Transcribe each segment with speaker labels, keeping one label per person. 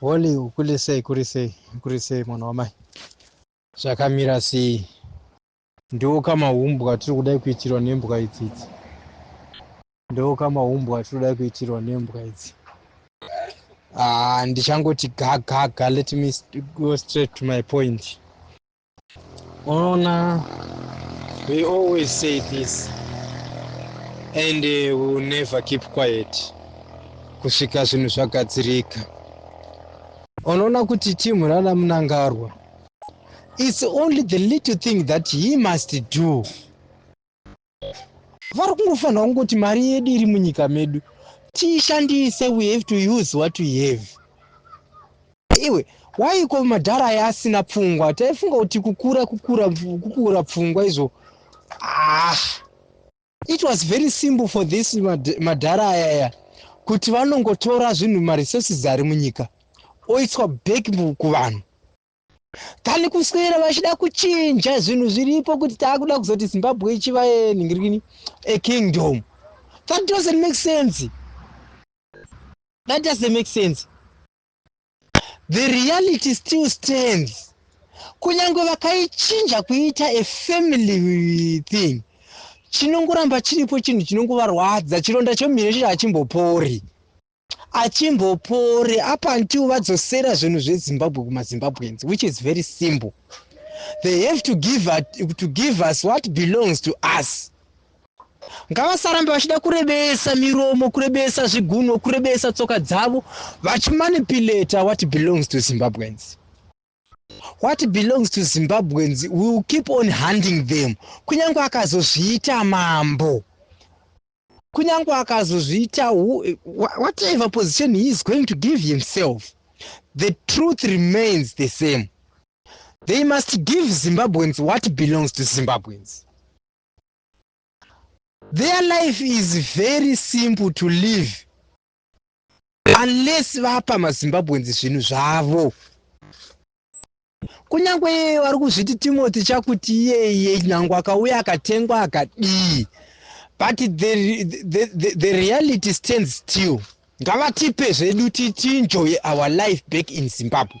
Speaker 1: holy ukule sei kuri sei kuri sei mwana wamai zvakamira sei Ndiwo kamahumbwa tiri kudai kuitirwa nembwa idzi idzi. Ndiwo kamahumbwa tiri kudai kuitirwa nembwa idzi. Ah, ndichangoti gagaga let me go straight to my point. Unoona we always say this and uh, we will never keep quiet kusvika zvinhu zvagadzirika. Unoona kuti team rana Munangarwa its only the little thing that he must do vari kungofanira kungoti mari yedu iri munyika medu tiishandise we have to use what we have iwe waiko madhara aye asina pfungwa taifunga kuti kukura kukura kukura pfungwa izvo ah It was very simple for this madhara ayaya kuti vanongotora zvinhu maresources ari munyika oiswa back kuvanhu kani kuswera vachida kuchinja zvinhu zviripo kuti taakuda kuzoti zimbabwe ichiva nhingirini a kingdom that doesn't make sense that doesn't make sense The reality still stands. Kunyange vakaichinja kuita a family thing, chinongoramba chiripo chinhu chinongovarwadza. Chironda chomumhino chiri hachimbopori. Hachimbopori up until vadzosera zvinhu zveZimbabwe kumaZimbabweans, which is very simple. They have to give, at, to give us what belongs to us. ngavasarambe vachida kurebesa miromo kurebesa zvigunwe kurebesa tsoka dzavo vachimanipulata what belongs to zimbabweans what belongs to zimbabweans will keep on hunting them kunyange akazozviita mambo kunyange akazozviita whatever position he is going to give himself the truth remains the same they must give zimbabweans what belongs to zimbabweans their life is very simple to live unless vapa mazimbabwenzi zvinhu zvavo kunyange iyeye vari kuzviti timothy chakuti iyeye nyange akauya akatengwa akadii but the, the, the, the reality stands still ngavatipe zvedu titinjoye our life back in zimbabwe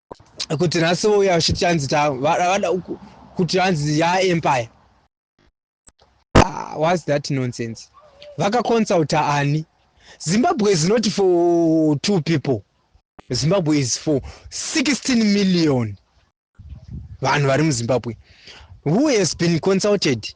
Speaker 1: kuti nhasi vouya vachiti hanzi vada kuti hanzi yaempire ah, was that nonsense vakaconsulta ani zimbabwe is not for two people zimbabwe is for 16 million vanhu vari muzimbabwe who has been consulted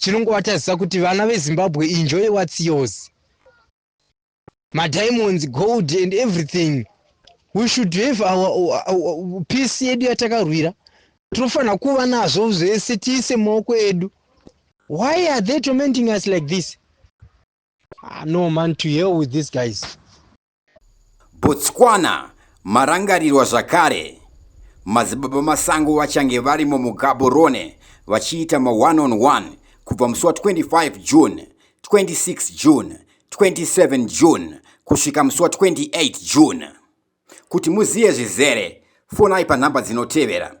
Speaker 1: Chinongovatadzisa kuti vana veZimbabwe enjoy what's yours. Madiamonds, gold and everything. We should have our, our, our peace yedu yatakarwira. Tinofanira kuva nazvo zvese tiise maoko edu. Why are they tormenting us like this? Ah, no man, to hell with these guys. Botswana
Speaker 2: marangarirwa zvakare. Madzibaba Masango vachange vari muMugaborone vachiita ma-one on one kubva musi wa 25 June, 26 June, 27 June kusvika musi wa 28 June. Kuti muzive zvizere, fonai panhamba dzinotevera